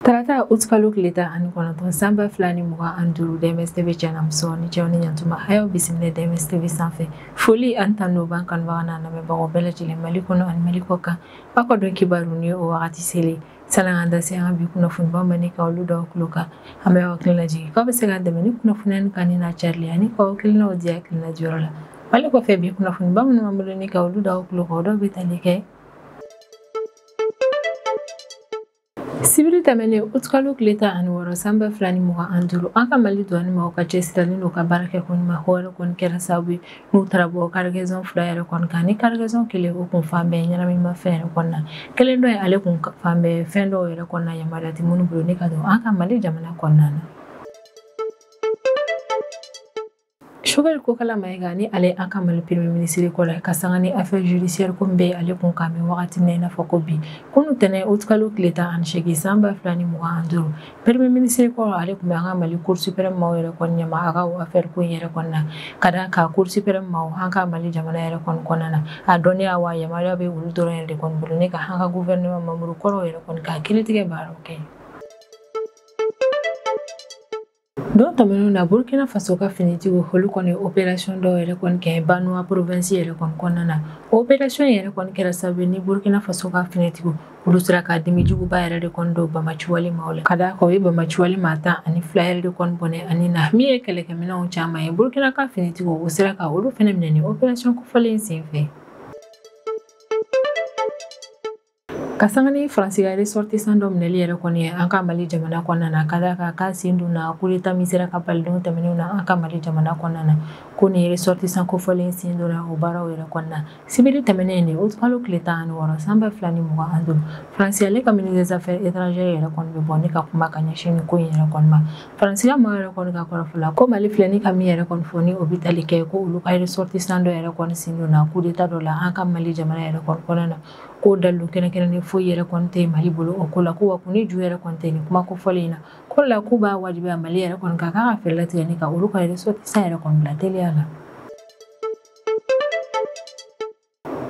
Tarata août kalo tile tan ani kɔnɔntɔn san ba fila ni mugan ani duuru DMS TV cɛnamuso ni cɛw ni ɲantuma a y'aw bisimila DMS TV sanfɛ foli ani tanu b'an kanubagaw n'an lamɛnbagaw bɛɛ lajɛlen Mali kɔnɔ ani Mali kɔ kan aw ka don kibaru ni o wagati selen ye sani an da se an ka bi kunnafonibaw ma ni ka olu da aw tulo kan an bɛ aw hakili lajigin k'aw bɛ se k'an dɛmɛ ni kunnafoni in kanuni n'a carili ani k'aw hakilinaw di hakilina diyɔrɔ la ale kɔfɛ bi kunnafoniba minnu b'an bolo ni ka olu da aw tulo kan dɔ bɛ tali kɛ sibiri tɛmɛnen utkalo tile tan ani wɔɔrɔ san ba fila ni mugan ani duuru an ka mali duwani maaw ka cɛsirili n'u ka baara kɛ ko ɲuman yɛrɛ kɔni kɛra sababu ye n'u taara bɔ karigɛzɔn fila yɛrɛ kɔni kan ni karigɛzɔn kelen o kun falen bɛ ɲɛnaminima fɛn yɛrɛ kɔni na kelen dɔ ye ale kun falen bɛ fɛn dɔw yɛrɛ kɔni na yamaruya tɛ minnu bolo ni ka don an ka mali jamana kɔnɔna na Choguel Kokalla Maïga ni ale an ka mali premier ministre kɔrɔ ka sanga ni affaire judiciaire ko bɛ ale kun ka mɛn wagati na i n'a fɔ ko bi kunun tɛnɛn utikalo tile tan ani seegin san ba fila ni mugan ani duuru premier ministre kɔrɔ ale tun bɛ an ka mali cour suprême maaw yɛrɛ kɔni ɲɛma a ka affaire ko in yɛrɛ kɔnɔna ka d'a kan cour suprême maaw an ka mali jamana yɛrɛ kɔni kɔnɔna na a dɔnniya wa yamaruya bɛ olu dɔrɔn yɛrɛ de kɔni bolo ni ka an ka gouvernement membre kɔrɔw yɛrɛ kɔni ka kiritigɛ baaraw kɛ Don tɛmɛnenw na Burkina Faso ka finitigiw olu kɔni operation dɔ yɛrɛ kɔni kɛ Banwa province yɛrɛ kɔni kɔnɔna na. O operation yɛrɛ kɔni kɛra sababu ye ni Burkina Faso ka finitigiw olu sera ka dimi juguba yɛrɛ de kɔni don banbaanciwale maaw la. Ka d'a kan u ye banbaanciwale maa tan ani fila yɛrɛ de kɔni bɔnɛ a ni na min ye kɛlɛkɛminɛnw caman ye. Burkina ka finitigiw u sera ka olu fɛnɛ minɛ ni operation kofɔlen in senfɛ. ka sanga ni faransi ka ressortissant dɔ minɛli yɛrɛ kɔni ye an ka mali jamana kɔnɔna na ka d'a kan k'a sen donna coup d'État min sera ka bali don tɛmɛnenw na an ka mali jamana kɔnɔna na ko nin ressortissant kofɔlen sen donna o baaraw yɛrɛ kɔnɔna sibiri tɛmɛnen utikalo tile tan ani wɔɔrɔ san ba fila ni mugan ani duuru faransi ale ka ministre des affaires étrangères yɛrɛ kɔni bɛ bɔ ni ka kuma ka ɲɛsin nin ko in yɛrɛ kɔni ma faransiya maa yɛrɛ kɔni ka kɔrɔfɔ la ko mali filɛ ni ka min yɛrɛ kɔni fɔ ni o bɛ tali kɛ ko olu ka ressortissant dɔ yɛrɛ kɔni sen donna coup d'État dɔ la an ka mali jamana yɛrɛ kɔni kɔnɔna na ko dalu kɛnɛkɛnɛ ni foyi yɛrɛ kɔni tɛ mali bolo o ko la ko wa ko ni ju yɛrɛ kɔni tɛ ni kuma ko fɔlen in na ko la k'u b'a wajibiya mali yɛrɛ kɔni ka kan ka fɛɛrɛ tigɛ ni ka olu ka ressortissant yɛrɛ kɔni bila teliya la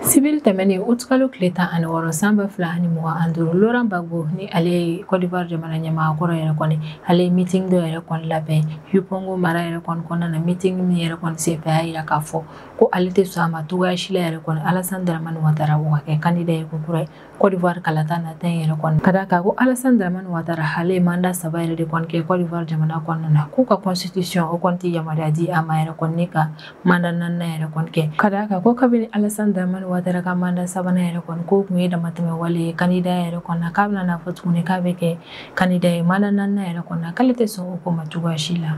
sibiri tɛmɛnen utikalo tile tan ani wɔɔrɔ san ba fila ani mugan ani duuru Laurent Gbagbo ni ale ye Côte d'Ivoire jamana ɲɛmaa kɔrɔ yɛrɛ kɔni ale ye miting dɔ yɛrɛ kɔni labɛn Yopougon mara yɛrɛ kɔni kɔnɔna na miting min yɛrɛ kɔni senfɛ y'a yira k'a fɔ ko ale tɛ sɔn a ma cogoya si la yɛrɛ kɔnɔ alasan dramani watara ka kɛ kandida ye ko kura ye kɔdiwari kalata nata in yɛrɛ kɔnɔ ka da kan ko alasan dramani watara hale ye manda saba yɛrɛ de kɔni kɛ kɔdiwari jamana kɔnɔna na k'u ka kɔnsitisiɔn o kɔni tɛ yamaruya di a ma yɛrɛ kɔni ka manda naaninan yɛrɛ kɔni kɛ ka da kan ko kabini alasan dramani watara ka manda sabanan yɛrɛ kɔni k'o tun ye damatɛmɛ wale ye kandida yɛrɛ kɔnɔ k'a bɛna n'a fɔ tuguni k'a bɛ kɛ kandida ye manda naaninan yɛrɛ kɔnɔ k'ale tɛ sɔn o ko ma cogoyaya si la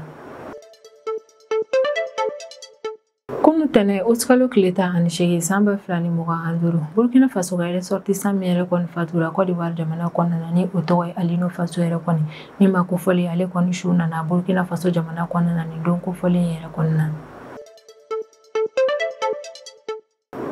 kunu tɛnɛn utikalo tile tan ani seegin san ba fila ni mugan ani duuru burkina faso ka resɔrtisan min yɛrɛ kɔni fatura kɔdiwari jamana kɔnɔna na ni o tɔgɔ ye alino faso yɛrɛ kɔni nin maa kofɔlen ale kɔni su nana burkina faso jamana kɔnɔna na nin don kofɔlen yɛrɛ kɔnɔna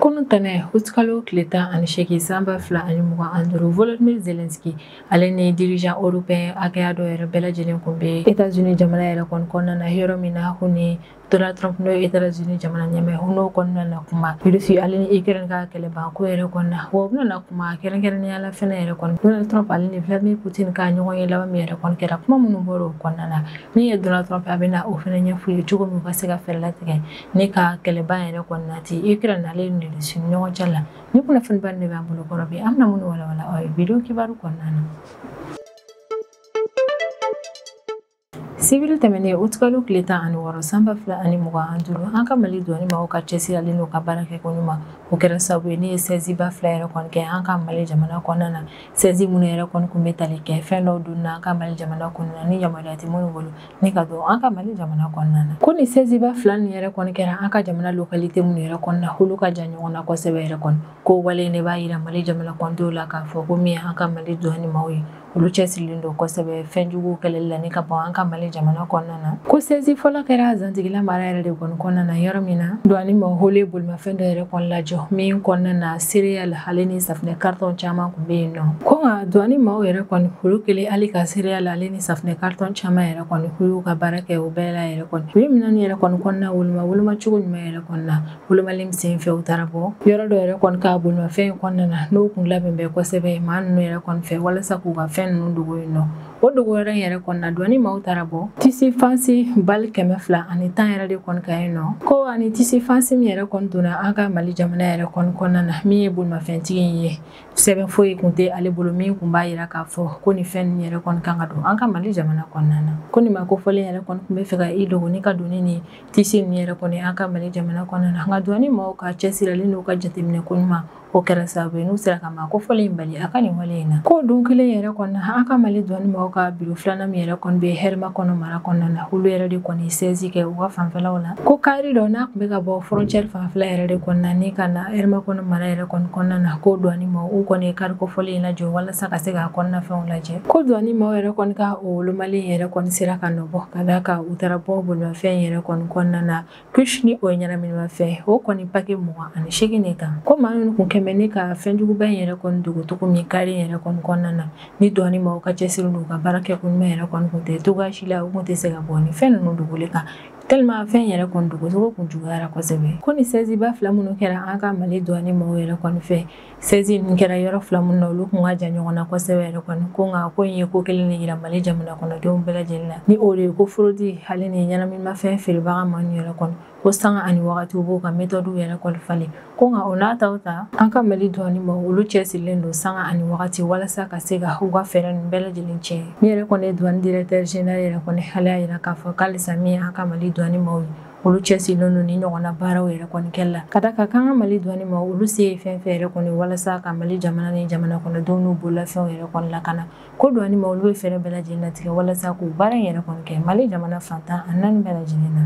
Kunu tɛnɛn utikalo tile tan ani seegin san ba fila ni mugan ani duuru volodimir zelenski ale ni dirijan eropeyɛn hakɛya dɔ yɛrɛ bɛɛ lajɛlen tun bɛ etazini jamana yɛrɛ kɔni kɔnɔna na yɔrɔ min na ko ni donald trump n'o ye etazini jamana ɲɛmaa ye n'o kɔnɔna na kuma rusi ale ni ikrɛni ka kɛlɛban ko yɛrɛ kɔnɔna na wa u bɛna na kuma kɛrɛnkɛrɛnnenya la fana yɛrɛ kɔnɔ donald trump ale ni vladimir putin ka ɲɔgɔn ye laban min yɛrɛ kɔni kɛra kuma minnu bɔra o kɔnɔna na min ye donald trump a bɛna o fana ɲɛfɔ u ye cogo min ka se ka fɛɛrɛ latigɛ ni ka kɛlɛ ban yɛrɛ kɔni na ten ikrɛni ale ni rusi ɲɔgɔn cɛ la nin kunnafoniba de b'an bolo kɔrɔ bi an bɛna minnu walawala aw ye wideyo kibaru kɔnɔna na sibiri tɛmɛnen utikalo tile tan ani wɔɔrɔ san ba fila ni mugan ani duuru an ka mali duwani maaw ka cɛsiri ale n'u ka baara kɛ ko ɲuman o kɛra sababu ye n'u ye sɛziba fila yɛrɛ kɔni kɛ an ka mali jamana kɔnɔna na sɛzi minnu yɛrɛ kɔni kun bɛ tali kɛ fɛn dɔw donna an ka mali jamana kɔnɔna na ni yamaruya tɛ minnu bolo ni ka don an ka mali jamana kɔnɔna na ko ni sɛziba fila nin yɛrɛ kɔni kɛra an ka jamana lokalite minnu yɛrɛ kɔnɔna holu ka jan ɲɔgɔn na kosɛbɛ yɛrɛ kɔni ko wale nin b'a yira mali jamana kɔnɔdenw la k'a fɔ ko min an ka mali duwani maaw ye olu cɛsirilen don kosɛbɛ fɛn juguw kɛlɛli la ni ka bɔ an ka mali jamana kɔnɔna na ko sɛzi fɔlɔ kɛra zantigila mara yɛrɛ de kɔni kɔnɔna na yɔrɔ min na duwani maaw holu ye bolimafɛn dɔ yɛrɛ kɔni lajɔ min kɔnɔna na sereyali ale ni safinɛ karitɔn caman kun bɛ yen nɔ ko nka duwani maaw yɛrɛ kɔni olu kelen hali ka sereyali ale ni safunɛ karitɔn caman yɛrɛ kɔni ko y'u ka baara kɛ o bɛɛ la yɛrɛ kɔni u ye minɛn yɛrɛ kɔni kɔnɔna woloma woloma cogo ɲuman yɛrɛ kɔnɔna wolomali min sen fɛ u taara bɔ yɔrɔ dɔ yɛrɛ kɔni kan bolimafɛn in kɔnɔna na n'o kun labɛnnen bɛ kosɛbɛ maa ninnu yɛrɛ kɔni fɛ walasa k'u ka fɛn ninnu dogo yen nɔ o dogo yɔrɔ in yɛrɛ kɔnɔna duwani maaw taara bɔ tisi fansi bali kɛmɛ fila ani tan yɛrɛ de kɔni kan yen nɔ ko ani tisi fansi min yɛrɛ kɔni donna an ka mali jamana yɛrɛ kɔni kɔnɔna na min ye bolimafɛntigi in ye sɛbɛn foyi kun tɛ ale bolo min kun b'a yira k'a fɔ ko nin fɛn ninnu yɛrɛ kɔni ka kan ka don an ka mali jamana kɔnɔna na ko nin maa kofɔlen yɛrɛ kɔni tun b'a fɛ ka i dogo ni ka don ni tisi ninnu yɛrɛ kɔni an ka mali jamana kɔnɔna na nka duwani maaw ka cɛsiri ale n'u ka jateminɛ ko ɲuman o kɛra sababu ye n'u sera ka maa kofɔlen in bali a ka nin wale in na ko don kelen yɛrɛ kɔnɔna an ka mali duwani maaw ka biro filanan min yɛrɛ kɔni bɛ hɛrɛmakɔnɔ mara kɔnɔna na olu yɛrɛ de kɔni sɛzi kɛ u ka fanfɛlaw la Ko kari dɔ n'a tun bɛ ka bɔ frontière fanfɛla yɛrɛ de kɔnɔna na ka na Hɛrɛmakɔnɔ mara yɛrɛ kɔnɔna na ko douane maaw kɔni ye kari kofɔlen in lajɔ walasa ka se k'a kɔnɔnafɛnw lajɛ ko douane maaw yɛrɛ kɔni ka o wolomali yɛrɛ kɔni sera ka nɔ bɔ ka d'a kan u taara bɔ bolimafɛn yɛrɛ kɔni kɔnɔna na kush ni o ye ɲɛnaminimafɛn o kɔni paki mugan ani segin de kan ko maa ninnu tun kɛmɛ ne ka fɛnjuguba in yɛrɛ kɔni dogo cogo min kari yɛrɛ kɔni kɔnɔna na ni douane maaw ka cɛsiri n'u ka baara kɛ ko ɲuman yɛrɛ kɔni tɛ cogoya si la u tun tɛ se ka bɔ ni fɛn ninnu dogoli kan tellement fɛn yɛrɛ kɔni dogocogo kun juguyara kosɛbɛ ko ni saisie ba fila minnu kɛra an ka mali douane maaw yɛrɛ kɔni fɛ saisie nin kɛra yɔrɔ fila minnu na olu kun ka jan ɲɔgɔn na kosɛbɛ yɛrɛ kɔni ko nka ko in ye ko kelen de yira mali jamana kɔnɔdenw bɛɛ lajɛlen na ni o de ye ko fraude hali ni ɲɛnaminimafɛn feerebaga maaw yɛrɛ kɔni ko sanga ani wagatiw b'u ka metɔdiw yɛrɛ kɔni falen ko nka o n'a ta o ta an ka mali douane maaw olu cɛsirilen don sanga ani wagati walasa ka se ka u ka fɛɛrɛ nin bɛɛ lajɛlen tiɲɛ min yɛrɛ kɔni ye douane directeur général yɛrɛ kɔni ale y'a yira k'a fɔ k'alisa min ye an ka mali douane maaw ye olu cɛsirilen don ni ɲɔgɔnna baaraw yɛrɛ kɔni kɛli la ka d'a kan k'an ka mali douane maaw olu se ye fɛn fɛn yɛrɛ kɔni walasa ka mali jamana ni jamana kɔnɔdenw n'u bololafɛnw yɛrɛ kɔni lakana ko douane maaw olu bɛ fɛɛrɛ bɛɛ lajɛlen latigɛ walasa k'u baara in yɛrɛ kɔni kɛ mali jamana fan tan ani naani bɛɛ lajɛlen na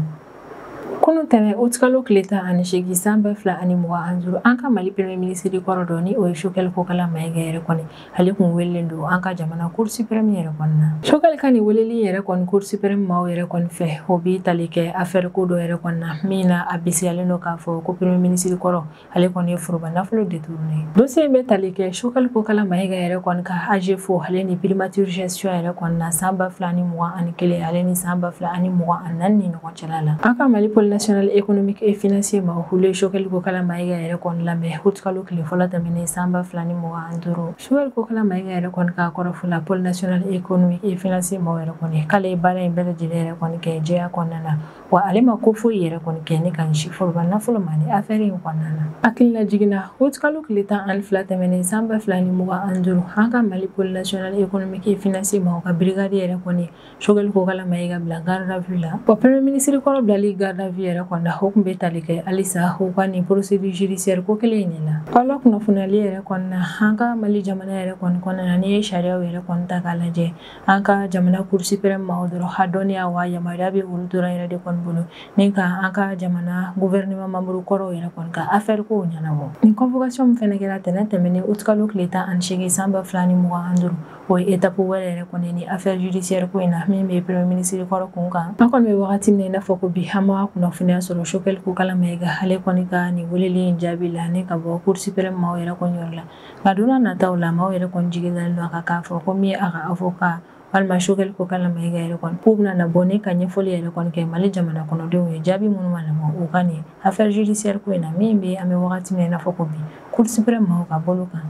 Kunun tɛmɛn utikalo tile tan ani segin san ba fila ani mugan an duuru an ka mali premier ministre kɔrɔ dɔ ni o ye Choguel Kokala Mayiga yɛrɛ kɔni ale tun welelen don an ka jamana cour suprême yɛrɛ kɔni na Choguel ka nin weleli yɛrɛ kɔni cour suprême maaw yɛrɛ kɔni fɛ o bɛ tali kɛ affaire ko dɔ yɛrɛ kɔni na min na a bisigiyalen don k'a fɔ ko premier ministre kɔrɔ ale kɔni ye foroba nafolo détourné dossier bɛ tali kɛ Choguel Kokala Mayiga yɛrɛ kɔni ka AGEFAU ale ni primature gestion yɛrɛ kɔni na san ba fila ni mugan ani kelen ale ni san ba fila ani mugan ani naani ni ɲɔgɔn cɛla la an ka mali pôle national économique et financier maaw olu ye Choguel Kokala Mayiga yɛrɛ kɔni lamɛn utikalo tile fɔlɔ tɛmɛnen san ba fila ni mugan ani duuru Choguel Kokala Mayiga yɛrɛ kɔni ka kɔrɔfɔ la pôle national économique et financier maaw yɛrɛ kɔni k'ale ye baara in bɛɛ lajɛlen yɛrɛ kɔni kɛ jɛya kɔnɔna na wa ale ma ko foyi yɛrɛ kɔni kɛ ne ka ɲɛsin foroba nafolo ma ni affaire in kɔnɔna na hakilila jiginna utikalo tile tan ani fila tɛmɛnen san ba fila ni mugan ani duuru an ka mali pôle national économique et financier maaw ka brigade yɛrɛ kɔni Choguel Kokala Mayiga bila garde à vue la wa premier ministre kɔrɔ bilali garde à vue yɛrɛ kɔni na o tun bɛ tali kɛ halisa o ka nin procédure judiciaire ko kelen in de la aw lakunnafoniyali yɛrɛ kɔni na an ka mali jamana yɛrɛ kɔni kɔnɔna na n'i ye sariyaw yɛrɛ kɔni ta k'a lajɛ an ka jamana cour suprême maaw dɔrɔn a dɔnniya wa yamaruya bɛ olu dɔrɔn yɛrɛ de kɔni bolo ni ka an ka jamana gouvernement membre kɔrɔw yɛrɛ kɔni ka affaire kow ɲɛnabɔ nin convocation min fɛnɛ kɛra tɛnɛn tɛmɛnen utikalo tile tan ani seegin san ba fila ni mugan an duuru o ye étape wɛrɛ yɛrɛ kɔni ni affaire judiciaire ko in na min bɛ premier ministre kɔrɔ kun kan an kɔni bɛ wagati min na i n'a fɔ ko bi an ma kunnafoniya sɔrɔ Choguel Kokala Mayiga ale kɔni ka nin weleli in jaabi la ni ka bɔ cour suprême maaw yɛrɛ kɔni yɔrɔ la nka don na nataw la maaw yɛrɛ kɔni jigi dalen don a kan k'a fɔ ko min ye a ka avocat walima choguel kokalla maïga yɛrɛ kɔni k'u bɛna na bɔ ni ka ɲɛfɔli yɛrɛ kɔni kɛ mali jamana kɔnɔdenw ye jaabi minnu ma lamɔ u ka nin affaire judiciaire ko in na min bɛ an bɛ wagati min na i n'a fɔ ko bi cour suprême maaw ka bolo kan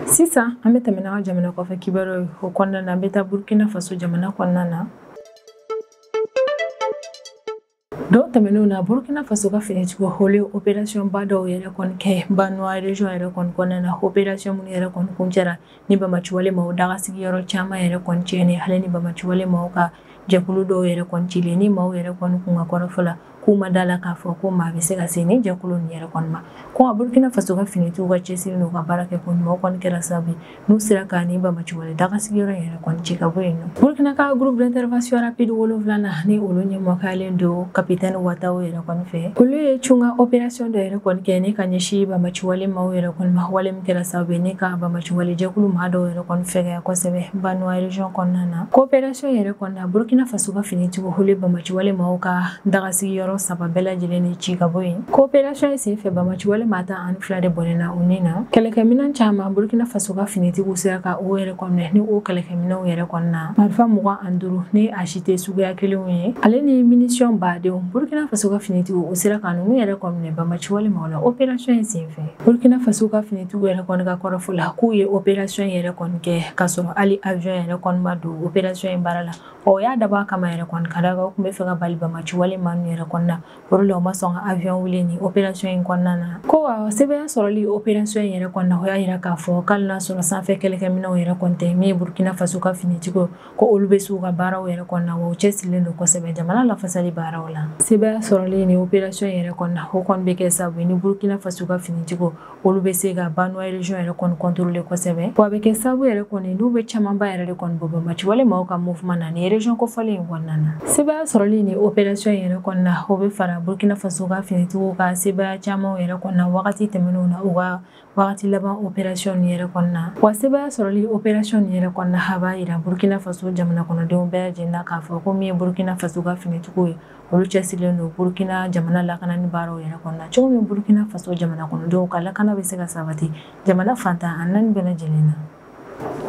sisan an bɛ tɛmɛ n'an ka jamana kɔfɛ kibaruyaw ye o kɔnɔna na an bɛ taa burkina faso jamana kɔnɔna na Don tɛmɛnenw na Burkina Faso ka finitigiw olu ye opération ba dɔw yɛrɛ kɔni kɛ Banwa région yɛrɛ kɔni kɔnɔna na opération minnu yɛrɛ kɔni kuncɛra ni banbaanciwale maaw dagasigiyɔrɔ caman yɛrɛ kɔni tiɲɛni hali ni banbaanciwale maaw ka jɛkulu dɔw yɛrɛ kɔni cilen ni maaw yɛrɛ kɔni kun ka kɔrɔfɔ la k'u ma d'a la k'a fɔ ko maa bɛ se ka se nin jɛkulu nin yɛrɛ kɔni ma ko nka Burkina Faso ka finitigiw ka cɛsiri n'u ka baara kɛ ko ɲuman o kɔni kɛra sababu ye n'u sera ka nin banbaanciwale dagasigiyɔrɔ yɛrɛ kɔni ci ka bɔ yen o burkina ka groupe d'intervention rapide wolonwulana ni olu ɲɛmɔgɔyalen don kapitɛni watao yɛrɛ kɔni fɛ olu ye cunkan opération dɔ yɛrɛ kɔni kɛ ni ka ɲɛsin banbaanciwale maaw yɛrɛ kɔni ma wale min kɛra sababu ye ni ka banbaanciwale jɛkulu maa dɔw yɛrɛ kɔni fɛgɛya kosɛbɛ banwa région kɔnɔna na ko opération yɛrɛ kɔni na burkina faso ka finitigiw olu ye banbaanciwale maaw ka dagasigiyɔrɔ saba bɛɛ lajɛlen ni ci ka bɔ yen Ko opération in senfɛ banbaanciwale maa tan ani fila de bɔnɛna u ni na kɛlɛkɛminɛn caman burkina faso ka finitigiw sera ka o yɛrɛ kɔni minɛ ni o kɛlɛkɛminɛnw yɛrɛ kɔni na marifa mugan ani duuru ni a si tɛ suguya kelenw ye hali ni minisiyɔn badenw burkina faso ka finitigiw olu sera ka ninnu yɛrɛ kɔni minɛ banbaanciwale maaw la opération in senfɛ burkina faso ka finitigiw yɛrɛ kɔni ka kɔrɔfɔ la k'u ye opération yɛrɛ kɔni kɛ ka sɔrɔ hali avion yɛrɛ kɔni ma don opération in baara la o y'a dabɔ a kama yɛrɛ kɔni ka d'a kan u tun b'a fɛ ka bali banbaanciwale maa ninnu yɛrɛ kɔni na O de la u ma sɔn ka avion wuli nin opération in kɔnɔna na. Ko wa sebaaya sɔrɔli opération in yɛrɛ kɔni na, o y'a jira k'a fɔ ko hali n'a sɔrɔ sanfɛ kɛlɛkɛminɛnw yɛrɛ kɔni tɛ min ye Burkina Faso ka finitigiw, ko olu bɛ se u ka baaraw yɛrɛ kɔni na, wa u cɛsirilen don kosɛbɛ jamana lafasali baaraw la. Sebaaya sɔrɔli nin opération in yɛrɛ kɔni na, o kɔni bɛ kɛ sababu ye ni Burkina Faso ka finitigiw olu bɛ se ka Banwa région yɛrɛ kɔni contrôler kosɛbɛ wa a bɛ kɛ sababu yɛrɛ kɔni n'u bɛ camanba yɛrɛ de kɔni bɔ banbaanciwale maaw ka mouvement na nin région kofɔlen in kɔnɔna na sebaaya sɔrɔli nin opération yɛrɛ kɔni na o bɛ fara Burkina Faso ka finitigiw ka sebaaya camanw yɛrɛ kɔni na wagati tɛmɛnenw na u ka wagati laban opération nin yɛrɛ kɔni na wa sebaaya sɔrɔli opération nin yɛrɛ kɔni na a b'a jira Burkina Faso jamana kɔnɔdenw bɛɛ lajɛlen na k'a fɔ ko min ye Burkina Faso ka finitigiw ye olu cɛsirilen don burukina jamana lakanani baaraw yɛrɛ kɔni na cogo min burukina faso jamana kɔnɔdenw ka lakana bɛ se ka sabati jamana fan tan ni naani bɛɛ lajɛlen na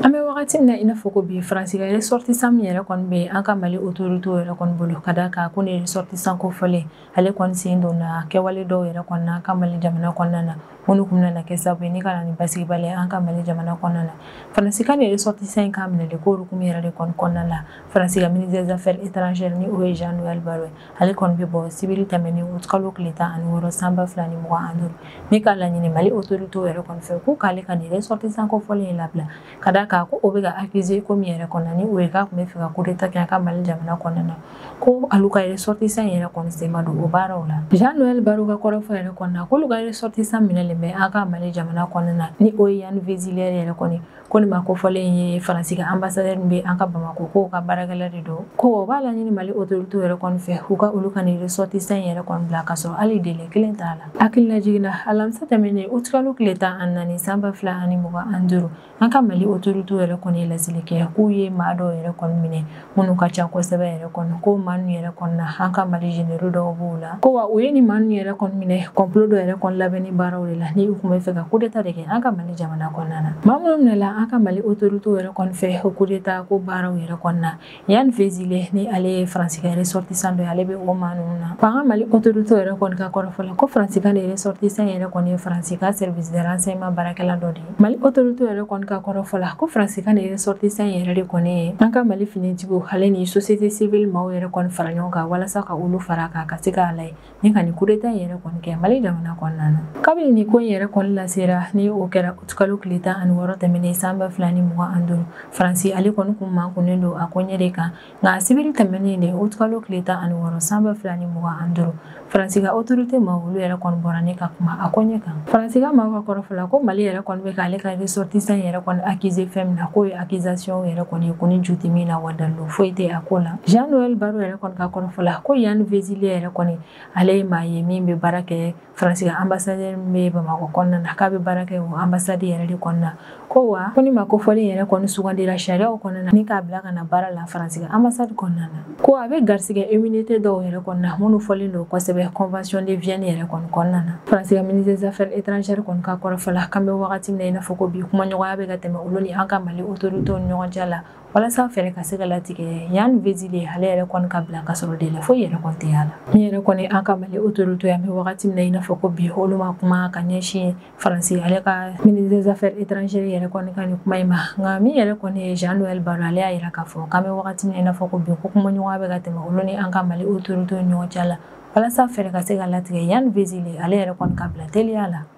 an bɛ wagati min na i n'a fɔ ko bi faransi ka ressortissant min yɛrɛ kɔni bɛ an ka mali autoritéw yɛrɛ kɔni bolo ka da kan ko nin ressortissant kofɔlen ale kɔni sen donna kɛwale dɔw yɛrɛ kɔni na an ka mali jamana kɔnɔna na minnu kun bɛna kɛ sababu ye ni ka na ni basigibaliya an ka mali jamana kɔnɔna na faransi ka nin ressortissant in k'a minɛ de ko hukumu yɛrɛ de kɔni kɔnɔna la faransi ka ministre des affaires étrangères ni o ye jean-noël barrot ale kɔni bɛ bɔ sibiri tɛmɛnen août kalo tile tan ani wɔɔrɔ san ba fila ni mugan ani duuru ni k'a laɲini mali autorité yɛrɛ kɔni fɛ ko k'ale ka nin ressortissant kofɔlen in labila ka da a kan ko o bɛ ka accuser ko min yɛrɛ kɔnɔna ni o ye k'a tun bɛ fɛ ka coup d'état kɛ an ka mali jamana kɔnɔna na ko alu ka ressortissant yɛrɛ kɔni sen ma don o baaraw la jean-noël barrot ka kɔrɔfɔ yɛrɛ kɔnɔna k'olu ka ressortissant minɛlen bɛ an ka mali jamana kɔnɔna na ni o ye yann vezilier yɛrɛ kɔni ko nin ma kofɔlen ye faransi ka anbasadɛri min bɛ an ka bamakɔ k'o ka baarakɛla de don ko o b'a laɲini mali autorité yɛrɛ kɔni fɛ u ka olu ka nin ressortissant yɛrɛ kɔni bila ka sɔrɔ hali délai kelen t'a la hakililajigin na alamisa tɛmɛnen utikalo tile tan ani naani san ba fila ani mugan ani duuru an ka mali autorité yɛrɛ kɔni ye laseli kɛ k'u ye maa dɔw yɛrɛ kɔni minɛ minnu ka ca kosɛbɛ yɛrɛ kɔni ko maa ninnu yɛrɛ kɔnɔna an ka mali généraux dɔw b'o la ko wa u ye nin maa ninnu yɛrɛ kɔni minɛ complot dɔ yɛrɛ kɔni labɛnni baaraw de la ni u tun bɛ fɛ ka coup d'état de kɛ an ka mali jamana kɔnɔna na maa minnu minɛla an ka mali otoritew yɛrɛ kɔni fɛ o coup d'état ko baaraw yɛrɛ kɔnɔna yann vezilier ni ale ye faransi ka ressortissant dɔ ye ale bɛ o maa ninnu na wa an ka mali otoritew yɛrɛ kɔni ka kɔrɔfɔ la ko faransi ka nin ressortissant yɛrɛ kɔni ye faransi ka service de renseignement baarakɛla dɔ de ye mali autorité yɛrɛ kɔni ka kɔrɔfɔ la ko faransi ka nin ressortissant yɛrɛ de kɔni ye an ka mali finitigiw ale ni sosiyete sivili maaw yɛrɛ kɔni fara ɲɔgɔn kan walasa ka olu fara kan ka se k'a lajɛ ni ka nin coup d'état yɛrɛ kɔni kɛ mali jamana kɔnɔna na kabini nin ko in yɛrɛ kɔni lasera ni o kɛra utikalo tile tan ani wɔɔrɔ tɛmɛnen san ba fila ni mugan ani duuru faransi ale kɔni kun makunnen don a ko ɲɛ de kan nka sibiri tɛmɛnen de utikalo tile tan ani wɔɔrɔ san ba fila ni mugan ani duuru faransi ka autorité maaw olu yɛrɛ kɔni bɔra ni ka kuma a koɲɛ kan faransi ka maaw ka kɔrɔfɔ la ko mali yɛrɛ kɔni bɛ k'ale ka ressortissant yɛrɛ kɔni accuser fɛn min na k'o ye accusation yɛrɛ kɔni ye ko ni ju tɛ min na wa dalilu foyi tɛ a ko la jean-noël barrot yɛrɛ kɔni ka kɔrɔfɔ la ko yann vezilier yɛrɛ kɔni ale ye maa ye min bɛ baara kɛ faransi ka anbasadi min bɛ bamakɔ kɔnɔna na k'a bɛ baara kɛ o anbasadi yɛrɛ de kɔnɔna ko wa ko nin ma kofɔlen yɛrɛ kɔni sugandira sariyaw kɔnɔna ni k'a bila ka na baara la faransi ka anbasadi kɔnɔna na ko a bɛ garisigɛ immunité dɔw yɛrɛ kɔnɔna minnu fɔlen don kosɛbɛ convention de vienne yɛrɛ kɔni kɔnɔna na faransi ka ministre des affaires étrangères kɔni ka kɔrɔfɔ la k'an bɛ wagati min na i n'a fɔ ko bi kumaɲɔgɔnya bɛ ka tɛmɛ olu ni an ka mali autorité ni ɲɔgɔn cɛ la walasa fɛɛrɛ ka se ka latigɛ yann vezilier ale yɛrɛ kɔni ka bila ka sɔrɔ délai foyi yɛrɛ kɔni tɛ y'a la min yɛrɛ kɔni an ka mali autorité an bɛ wagati min na i n'a fɔ ko bi olu ma kuma ka ɲɛsin faransi ale ka ministre des affaires étrangères yɛrɛ kɔni ka nin kuma in ma nka min yɛrɛ kɔni ye jean-noël barrot ale y'a yira k'a fɔ k'an bɛ wagati min na i n'a fɔ ko bi ko kumaɲɔgɔnya bɛ ka tɛmɛ olu ni an ka mali autorité ni ɲɔgɔn cɛ la walasa fɛɛrɛ ka se ka latigɛ yann vezilier ale yɛrɛ kɔni ka bila teliya la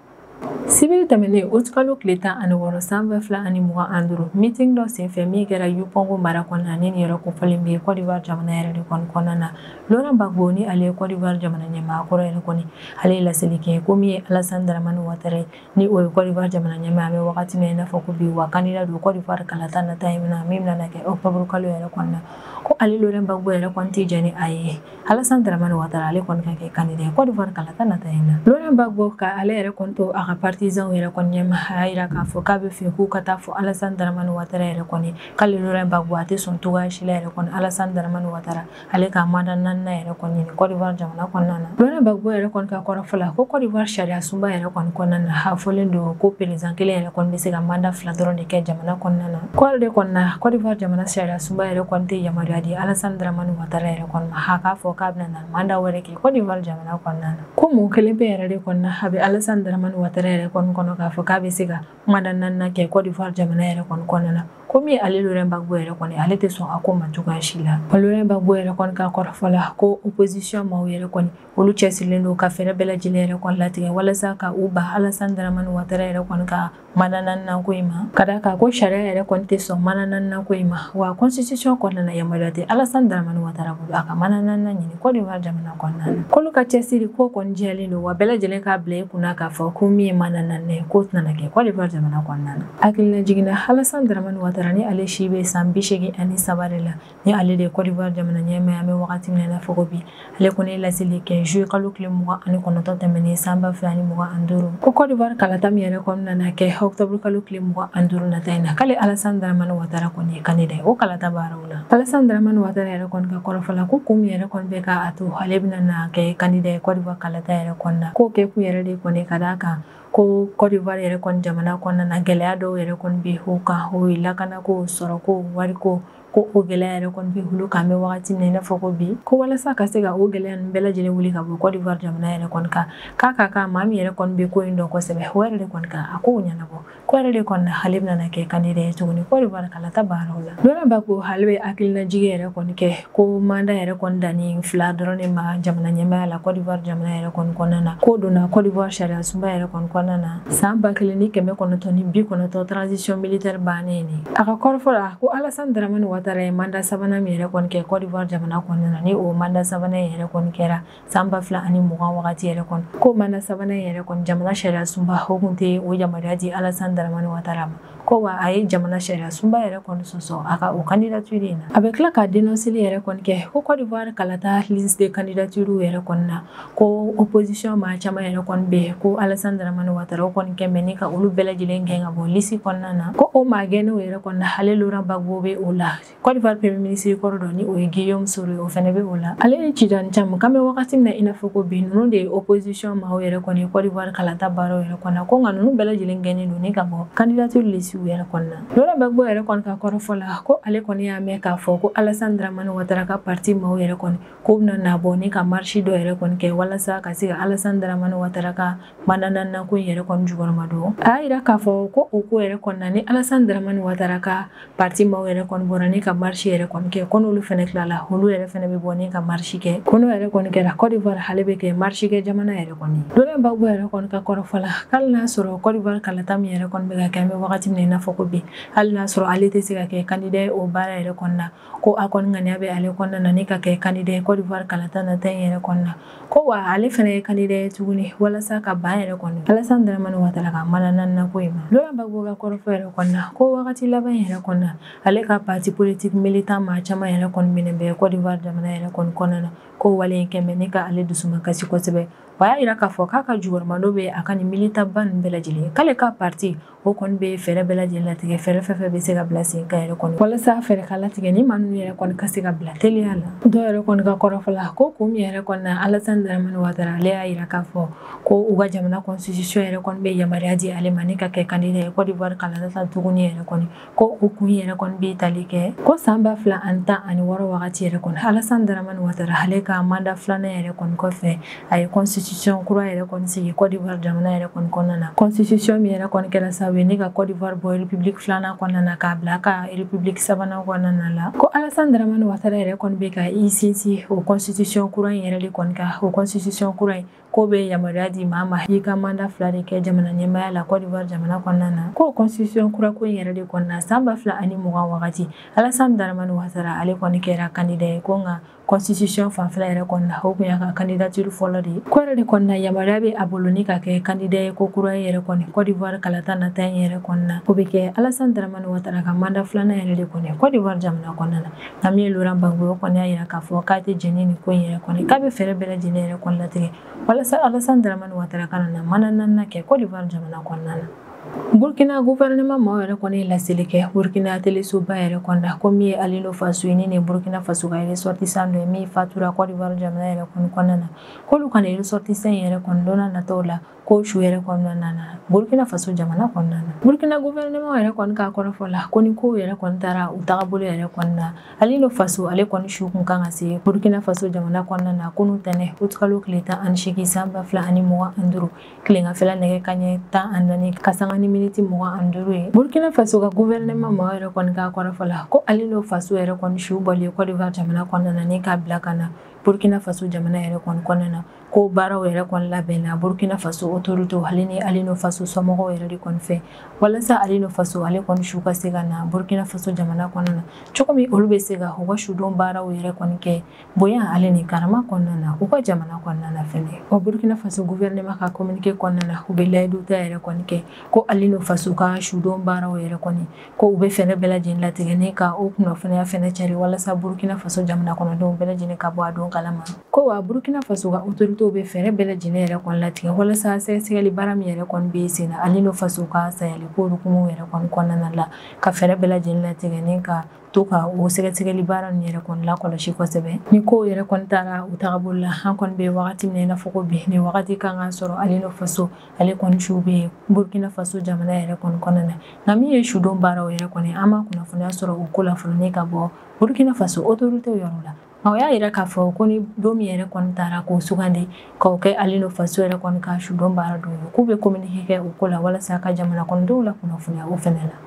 sibiri tɛmɛnen uti kalo tile tan ani wɔɔrɔ san ba fila ani mugan an duuru mitin dɔ senfɛ min kɛra yupɔngo mara kɔnɔna ni yɛrɛ kofɔlen bɛ kɔdiwari jamana yɛrɛ de kɔni kɔnɔna na lɔrɛn bagbo ni ale ye kɔdiwari jamana ɲɛmaa kɔrɔ yɛrɛ kɔni ale ye laseli kɛ ko min ye alasan daramani watara ye ni o ye kɔdiwari jamana ɲɛmaa an bɛ wagati min na i n'a fɔ ko bi wa kandida don kɔdiwari kalata nata ye min bɛna na kɛ ɔkutɔburukalo yɛrɛ kɔnɔna ko ale lɔrɛn bagbo yɛrɛ kɔni tɛ jɛn ni a ye Alassane Dramane Ouattara ale kɔni ka kɛ candidat ye Côte d'Ivoire kalata nata in na Laurent Gbagbo ka ale yɛrɛ kɔni to a ka partisans yɛrɛ kɔni ɲɛma a y'a jira k'a fɔ k'a bɛ fɛ k'u ka taa fɔ Alassane Dramane Ouattara yɛrɛ kɔni k'ale Laurent Gbagbo a tɛ sɔn cogoya si la yɛrɛ kɔni Alassane Dramane Ouattara ale ka mandat naaninan yɛrɛ kɔni ɲini Côte d'Ivoire jamana kɔnɔna na Laurent Gbagbo yɛrɛ kɔni ka kɔrɔfɔ la ko Côte d'Ivoire sariya sunba yɛrɛ kɔni kɔnɔna na a fɔlen don ko président kelen yɛrɛ kɔni bɛ se ka mandat fila dɔrɔn de kɛ jamana kɔnɔna na k'o yɛrɛ de kɔni na Côte d'Ivoire jamana sariya sunba yɛrɛ kɔni tɛ yamaruya di Alassane Dramane Ouattara yɛrɛ kɔni ma k'a fɔ k'a bɛna na manda wɛrɛ kɛ kɔdiwari jamana kɔnɔna na ko mun kelen pe yɛrɛ de kɔni na a bɛ alasan daramani watara yɛrɛ kɔni kɔnɔ k'a fɔ k'a bɛ se ka manda naaninan kɛ kɔdiwari jamana yɛrɛ kɔni kɔnɔna na komi ale lorɛn bagbo yɛrɛ kɔni ale tɛ sɔn a ko ma cogoya si la lorɛn bagbo yɛrɛ kɔni ka kɔrɔfɔ la ko opposition maaw yɛrɛ kɔni olu cɛsirilen don ka fɛɛrɛ bɛɛ lajɛlen yɛrɛ kɔni latigɛ walasa ka u ban alasan daramani watara yɛrɛ kɔni ka manda naaninan ko in ma ka d'a kan ko sariya yɛrɛ kɔni tɛ sɔn manda naaninan ko in ma wa constitution kɔnɔna na yamaruya tɛ alasan daramani watara bolo a ka manda naaninan ɲini kɔdiwari jamana kɔnɔna na k'olu ka cɛsiri ko kɔni jɛlen don wa bɛɛ lajɛlen k'a bila i kunna k'a fɔ ko min ye manda naaninan ye k'o tɛna kɛ kɔdiwari jamana kɔnɔna na hakilinajigin na alasan daramani watara ni ale si bɛ san bi seegin ani saba de la ni ale de ye kɔdiwari jamana ɲɛmaa ye an bɛ wagati min na i n'a fɔ ko bi ale kɔni ye laseli kɛ zuluye kalo tile mugan ani kɔnɔntɔn tɛmɛnen san ba fila ni mugan an duuru ko kɔdiwari kalata min yɛrɛ kɔni na na kɛ ɔkutɔburu kalo tile mugan an duuru nata in na k'ale alasan daramani watara kɔni ye kandida ye o kalata baaraw la alasan daramani watara yɛrɛ kɔni ka kɔrɔfɔ la ko kun min yɛrɛ kɔni bɛ ka a to ale bɛna na kɛ kandida ye kɔdiwari kalata yɛrɛ kɔni na k'o kɛ kun yɛrɛ de kɔni ka d'a kan ko kɔdiwari yɛrɛ kɔni jamana kɔnɔna na gɛlɛya dɔw yɛrɛ kɔni bɛ u kan o ye lakanako sɔrɔko wariko ko o gɛlɛya yɛrɛ kɔni bɛ olu kan an bɛ wagati min na i n'a fɔ ko bi ko walasa ka se ka o gɛlɛya ninnu bɛɛ lajɛlen wuli ka bɔ Côte d'Ivoire jamana yɛrɛ kɔni kan k'a ka kan maa min yɛrɛ kɔni bɛ ko in dɔn kosɛbɛ o yɛrɛ de kɔni ka na kow ɲɛnabɔ k'o yɛrɛ de kɔni na ale bɛna kɛ kandida ye tuguni Côte d'Ivoire kalata baaraw la Laurent Gbagbo ale bɛ hakilinajigi yɛrɛ kɔni kɛ ko manda yɛrɛ kɔni dannen fila dɔrɔn de ma jamana ɲɛmaaya la Côte d'Ivoire jamana yɛrɛ kɔni kɔnɔna na k'o donna Côte d'Ivoire sariyasunba yɛrɛ kɔni kɔnɔna na san ba kelen ni kɛmɛ kɔnɔntɔn ni bi kɔnɔntɔn transition militaire bannen a ka kɔrɔfɔ la ko alasan daramani watara ye manda sabanan min yɛrɛ kɔni kɛ cote d'ivoire jamana kɔnɔna na ni o manda sabanan yɛrɛ kɔni kɛra san ba fila ani mugan wagati yɛrɛ kɔnɔ k'o manda sabanan yɛrɛ kɔni jamana sariya sunba o kun tɛ o yamaruya di alasan daramani watara ma ko wa a ye jamana sariya sunba yɛrɛ kɔni sɔsɔ a ka o kandidatiri in na a bɛ tila ka denɔsili yɛrɛ kɔni kɛ ko cote d'ivoire kalata liste de kandidatiriw yɛrɛ kɔni na ko opposition maa caman yɛrɛ kɔni bɛ ko alasan daramani watara o kɔni kɛmɛ ni ka olu bɛɛ lajɛlen gɛn ka bɔ lisi kɔnɔna na ko o maa gɛnnenw yɛrɛ kɔni na hali laurent gbagbo bɛ o la Côte d'Ivoire premier ministre kɔrɔ dɔ ni o ye Guillaume Soro ye o fɛnɛ bɛ o la ale ni Tidjane Thiam k'an bɛ wagati min na i n'a fɔ ko bi ninnu de ye opposition maaw yɛrɛ kɔni ye Côte d'Ivoire kalata baaraw yɛrɛ kɔni na ko nka ninnu bɛɛ lajɛlen gɛnnen don ni ka bɔ candidature lisiw yɛrɛ kɔni na Laurent Gbagbo yɛrɛ kɔni ka kɔrɔfɔ la ko ale kɔni y'a mɛn k'a fɔ ko Alassane Dramane Ouattara ka parti maaw yɛrɛ kɔni ko bɛna na bɔ ni ka marisi dɔ yɛrɛ kɔni kɛ walasa ka se ka alasan daramani watara ka manda naaninan ko in yɛrɛ kɔni jukɔrɔma don a y'a yira k'a fɔ ko o ko yɛrɛ kɔni na ni alasan daramani watara ka parti maaw yɛrɛ kɔni bɔra ni ka marisi yɛrɛ kɔni kɛ ko n'olu fɛnɛ tilala olu yɛrɛ fɛnɛ bɛ bɔ ni ka marisi kɛ ko n'o yɛrɛ kɔni kɛra cote d'ivoire ale bɛ kɛ marisi kɛ jamana yɛrɛ kɔni laurent gbagbo yɛrɛ kɔni ka kɔrɔfɔ la hali n'a sɔrɔ cote d'ivoire kalata min yɛrɛ kɔni bɛ ka kɛ an bɛ wagati min na i n'a fɔ ko bi hali n'a sɔrɔ ale tɛ se ka kɛ kandida ye o baara yɛrɛ kɔni na ko a kɔni ŋaniya bɛ ale kɔnɔna na ni ka kɛ kandida ye Côte d'Ivoire kalata nata in yɛrɛ kɔni na ko wa ale fɛnɛ ye kandida ye tuguni walasa ka ban yɛrɛ kɔni Alassane Dramane Ouattara ka manda naaninan ko in ma Laurent Gbagbo ka kɔrɔfɔ yɛrɛ kɔni na ko wagati laban in yɛrɛ kɔni na ale ka parti politique militant maa caman yɛrɛ kɔni minɛn bɛ Côte d'Ivoire jamana yɛrɛ kɔni kɔnɔna na ko wale in kɛmɛ ni ka ale dusuma kasi kosɛbɛ o y'a yira k'a fɔ k'a ka jukɔrɔmadon bɛ a ka nin militant ba ninnu bɛɛ lajɛlen k'ale ka parti o kɔni bɛ fɛɛrɛ bɛɛ lajɛlen latigɛ fɛɛrɛ fɛn fɛn bɛ se ka bila sen kan yɛrɛ kɔni walasa fɛɛrɛ ka latigɛ ni maa ninnu yɛrɛ kɔni ka se ka bila teliya la dɔw yɛrɛ kɔni ka kɔrɔfɔ la ko kun min yɛrɛ kɔni na alasani daramani watara ale y'a yira k'a fɔ ko u ka jamana constitution yɛrɛ kɔni bɛ yamaruya di ale ma ni ka kɛ candidat ye Côte d'Ivoire kalata nata tuguni yɛrɛ kɔni ko o kun yɛrɛ kɔni bɛ tali kɛ ko san ba fila ani tan ani wɔɔrɔ wagati yɛrɛ kɔni alasan daramani watara ale ka manda filanan yɛrɛ kɔni kɔfɛ a ye constitution kura yɛrɛ kɔni sigi cote d'ivoire jamana yɛrɛ kɔni kɔnɔna na constitution min yɛrɛ kɔni kɛra sababu ye ni ka cote d'ivoire bɔ république filanan kɔnɔna na k'a bila ka république sabanan kɔnɔna la ko alasan daramani watara yɛrɛ kɔni bɛ ka i sinsin o constitution kura in yɛrɛ de kɔni kan o constitution kura in ko bɛ yamaruya di maa ma i ka manda fila de kɛ jamana ɲɛmaaya la cote d'ivoire jamana kɔnɔna na k'o constitution kura ko in yɛrɛ de kɔni na san ba fila ani mugan wagati alasan daramani watara ale kɔni kɛra kandida ye ko nka constitution fanfɛla yɛrɛ kɔni na o kun y'a ka kandidatiri fɔlɔ de ye k'o yɛrɛ de kɔni na yamaruya bɛ a bolo ni ka kɛ kandida ye kokura yɛrɛ kɔni cote d'ivoire kalata nata in yɛrɛ kɔni na o bɛ kɛ alasan daramani watara ka manda filanan yɛrɛ de kɔni cote d'ivoire jamana kɔnɔna na min ye laurent gbagbo ye o kɔni y'a yira k'a fɔ k'a tɛ jɛn ni nin ko in yɛrɛ kɔni k'a bɛ fɛɛrɛ bɛɛ lajɛlen yɛrɛ kɔni latigɛ walasa alasan daramani watara kana na manda naaninan kɛ cote d'ivoire jamana kɔnɔna na burkina guvɛrɛnɛma maaw yɛrɛ kɔni ye laseli kɛ burkina telesoba yɛrɛ kɔni na ko min ye alino faso ye ni nin burkina faso ka resɔrtisan dɔ ye min fatura cote d'ivoire jamana yɛrɛ kɔni kɔnɔna na k'olu ka nin resɔrtisan yɛrɛ kɔni don nataw la ko su yɛrɛ kɔni nana burkina faso jamana kɔnɔna na burkina gouvernement yɛrɛ kɔni k'a kɔrɔfɔ la ko ni kow yɛrɛ kɔni taara u tagabolo yɛrɛ kɔni na alino faso ale kɔni su kun kan ka se burkina faso jamana kɔnɔna na kunu tɛnɛ utikalo tile tan ani seegin san ba fila ani mugan ani duuru tilengafɛla nɛgɛ kaɲɛ tan ani naani ka sanga ni miniti mugan ani duuru ye burkina faso ka gouvernement mɔgɔ yɛrɛ kɔni k'a kɔrɔfɔ la ko alino faso yɛrɛ kɔni su bɔlen kɔdiwari jamana kɔnɔna na ni k'a bila ka na burkina faso jamana yɛrɛ kɔni kɔnɔna na ko baaraw yɛrɛ kɔni labɛnna burkina faso autorité ale ni alino faso somɔgɔw yɛrɛ de kɔni fɛ walasa alino faso ale kɔni su ka se ka na burkina faso jamana kɔnɔna na cogo min olu bɛ se ka u ka sudon baaraw yɛrɛ kɔni kɛ bonya ale ni karama kɔnɔna na u ka jamana kɔnɔna na fɛnɛ o burkina faso gouvernement ka communiqué kɔnɔna na u bɛ layidu ta yɛrɛ kɔni kɛ ko alino faso ka sudon baaraw yɛrɛ kɔni ko u bɛ fɛɛrɛ bɛɛ lajɛlen latigɛ ni ka o kunnafoniya fɛnɛ cari walasa burkina faso jamana kɔnɔdenw bɛɛ lajɛlen ka bɔ a don kalama ko wa burkina faso ka otoritew bɛ fɛɛrɛ bɛɛ lajɛlen yɛrɛ kɔni latigɛ walasa sɛgɛsɛgɛli baara min yɛrɛ kɔni bɛ sen na alino faso ka sayaliko hukumu yɛrɛ kɔni kɔnɔna la ka fɛɛrɛ bɛɛ lajɛlen latigɛ ni ka to ka o sɛgɛsɛgɛli baara ninnu yɛrɛ kɔni lakɔlɔsi kosɛbɛ ni kow yɛrɛ kɔni taara u tagabolo la an kɔni bɛ wagati min na i n'a fɔ ko bi nin wagati kan ka sɔrɔ alino faso ale kɔni su bɛ yen burkina faso jamana yɛrɛ kɔni kɔnɔna na nka min ye sudon baaraw yɛrɛ kɔni an ma kunnafoniya sɔrɔ o ko la fɔlɔ ni ka bɔ burkina faso autorité yɔrɔ la nka u y'a yira k'a fɔ ko ni don min yɛrɛ kɔni taara k'o sugandi k'o kɛ alino faso yɛrɛ kɔni ka sudon baara don ye k'u bɛ communiqué kɛ o ko la walasa ka jamana kɔnɔdenw lakunnafoniya o fɛnɛ la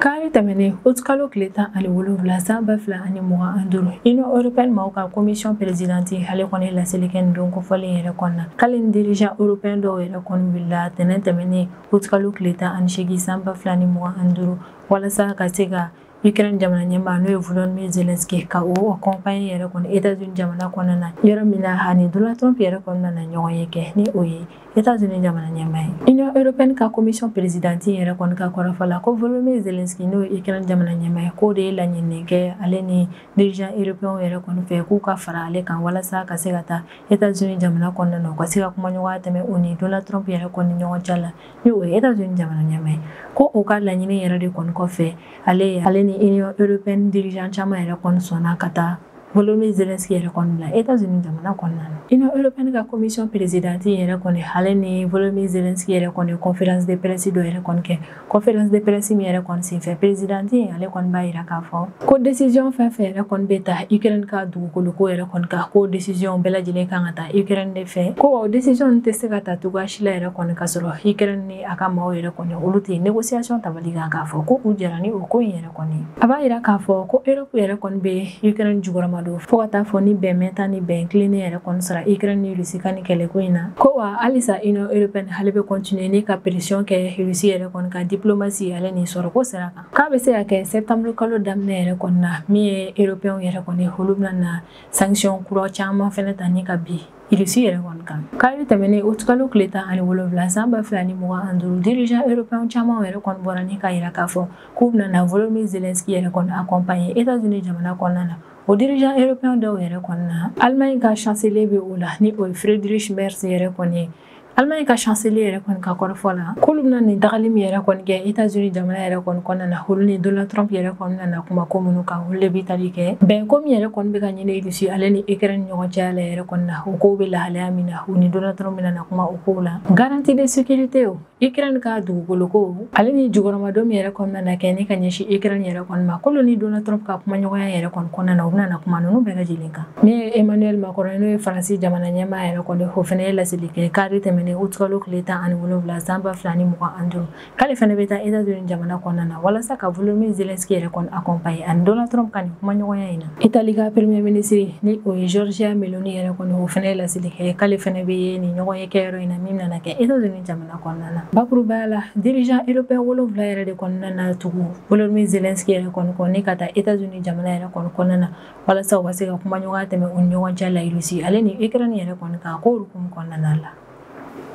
Kari tɛmɛnen utikalo tile tan ani wolonwula san ba fila ani mugan ani duuru union européenne maaw ka commission présidente ale kɔni laseli kɛ nin don kofɔlen yɛrɛ kɔnɔna na k'ale ni dirigeant européen dɔw yɛrɛ kɔni wulila tɛnɛn tɛmɛnen utikalo tile tan ani seegin san ba fila ni mugan ani duuru walasa ka se ka Ukraine jamana ɲɛmaa n'o ye Volodymyr Zelensky ka o accompagner yɛrɛ kɔni États-Unis jamana kɔnɔna na yɔrɔ min na ani Donald Trump yɛrɛ kɔni nana ɲɔgɔnye kɛ ni o ye États-Unis jamana ɲɛmaa ye Union européenne ka commission présidente in yɛrɛ kɔni ka kɔrɔfɔ la ko Volodymyr Zelensky n'o ye Ukraine jamana ɲɛmaa ye k'o de ye laɲini kɛ ale ni dirigeant européen yɛrɛ kɔni fɛ k'u ka fara ale kan walasa ka se ka taa États-Unis jamana kɔnɔna na u ka se ka kumaɲɔgɔnya tɛmɛ o ni Donald Trump yɛrɛ kɔni ni ɲɔgɔn cɛ la ni o ye États-Unis jamana ɲɛmaa ye ko o ka laɲini yɛrɛ de kɔni kɔfɛ ale ale ni Union européenne dirigeant caman yɛrɛ kɔni sɔnna ka taa volodymyr zelensky yɛrɛ kɔni bila états-unis jamana kɔnɔna na union européenne ka commission présidente yɛrɛ kɔni ale ni volodymyr zelensky yɛrɛ kɔni conférence de presse dɔ yɛrɛ kɔni kɛ conférence de presse min yɛrɛ kɔni senfɛ présidente in ale kɔni b'a yira k'a fɔ ko décision fɛn fɛn yɛrɛ kɔni bɛ ta ukraine ka dugukolo ko yɛrɛ kɔni kan ko décision bɛɛ lajɛlen kan ka ta ukraine de fɛ ko décision tɛ se ka ta cogoya si la yɛrɛ kɔni ka sɔrɔ ukraine ni a ka maaw yɛrɛ kɔni olu tɛ négociation tabali kan k'a fɔ ko u jɛra ni o ko in yɛrɛ kɔni a b'a yira k'a fɔ ko Europe yɛrɛ kɔni bɛ ukraine jugɔrɔma don fo ka taa fɔ ni bɛn mɛɛnta ni bɛn tilennen yɛrɛ kɔni sara ukraine ni Russie ka nin kɛlɛko in na ko wa halisa union européenne ale bɛ continuer ni ka pression kɛ Russie yɛrɛ kɔni kan diplomatie ale ni sɔrɔko sira kan k'a bɛ se ka kɛ septembre kalo daminɛ yɛrɛ kɔni na min ye européenw yɛrɛ kɔni olu bɛna na sanction kura caman fɛnɛ ta ni ka bin Russie yɛrɛ kɔni kan kari tɛmɛnen août kalo tile tan ani wolonwula san ba fila ni mugan ani duuru dirigeant européenw caman yɛrɛ kɔni bɔra ni k'a yira k'a fɔ k'u bɛna na Volodymyr Zelensky yɛrɛ kɔni accompagner États-Unis jamana kɔnɔna na o dirigeant européen dɔw yɛrɛ kɔni na Allemagne ka chancelier bɛ o la ni o ye Friedrich Merz yɛrɛ kɔni ye Allemagne ka chancelier yɛrɛ kɔni ka kɔrɔfɔ la k'olu bɛna nin tagali min yɛrɛ kɔni kɛ États-Unis jamana yɛrɛ kɔni kɔnɔna na olu ni Donald Trump yɛrɛ kɔni bɛna na kuma ko minnu kan olu de bɛ tali kɛ bɛnko min yɛrɛ kɔni bɛ ka ɲini Russie ale ni Ukraine ɲɔgɔn cɛya la yɛrɛ kɔni na o kow bɛ lahalaya min na u ni Donald Trump bɛna na kuma o kow la garantie de sécurité o Ukraine ka dugukolo ko ale ni jukɔrɔmadon min yɛrɛ kɔni nana kɛ ni ka ɲɛsin Ukraine yɛrɛ kɔni ma k'olu ni Donald Trump ka kumaɲɔgɔnya yɛrɛ kɔni kɔnɔna na u bɛna na kuma ninnu bɛɛ lajɛlen kan min ye Emmanuel Macron n'o ye Faransi jamana ɲɛmaa yɛrɛ kɔni o fana ye laseli kɛ kari tɛmɛnen août kalo tile tan ani wolonwula san ba fila ni mugan ani duuru k'ale fana bɛ taa États-Unis jamana kɔnɔna na walasa ka Volodymyr Zelensky yɛrɛ kɔni accompagner ani Donald Trump ka nin kumaɲɔgɔnya in na Italie ka premier ministre ni o ye Giorgia Meloni yɛrɛ kɔni o fana ye laseli kɛ k'ale fana bɛ nin ɲɔgɔn kɛyɔrɔ in na min nana kɛ États-Unis jamana kɔnɔna na bakuruba la dirigeant européen wolonwula yɛrɛ de kɔni nana tugu Volodymyr Zelensky yɛrɛ kɔni na ka taa États-Unis jamana yɛrɛ kɔni kɔnɔna na walasa u ka se ka kumaɲɔgɔnya tɛmɛ u ni ɲɔgɔn cɛ la Russie ale ni Ukraine yɛrɛ kɔni kan ko hukumu kɔnɔna la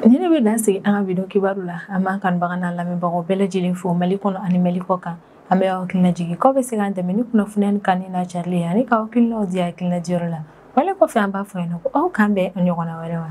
ni ne bɛ dan sigi an ka bi don kibaru la an b'an kanubaga n'an lamɛnbagaw bɛɛ lajɛlen fo mali kɔnɔ ani mali kɔ kan an bɛ aw hakilina jigin k'aw bɛ se k'an dɛmɛ ni kunnafoni in kanuni n'a carili ye ani k'aw hakilinaw di hakilina diyɔrɔ la wale kɔfɛ an b'a fɔ yen nɔ ko aw k'an bɛn a ɲɔgɔnna wɛrɛ ma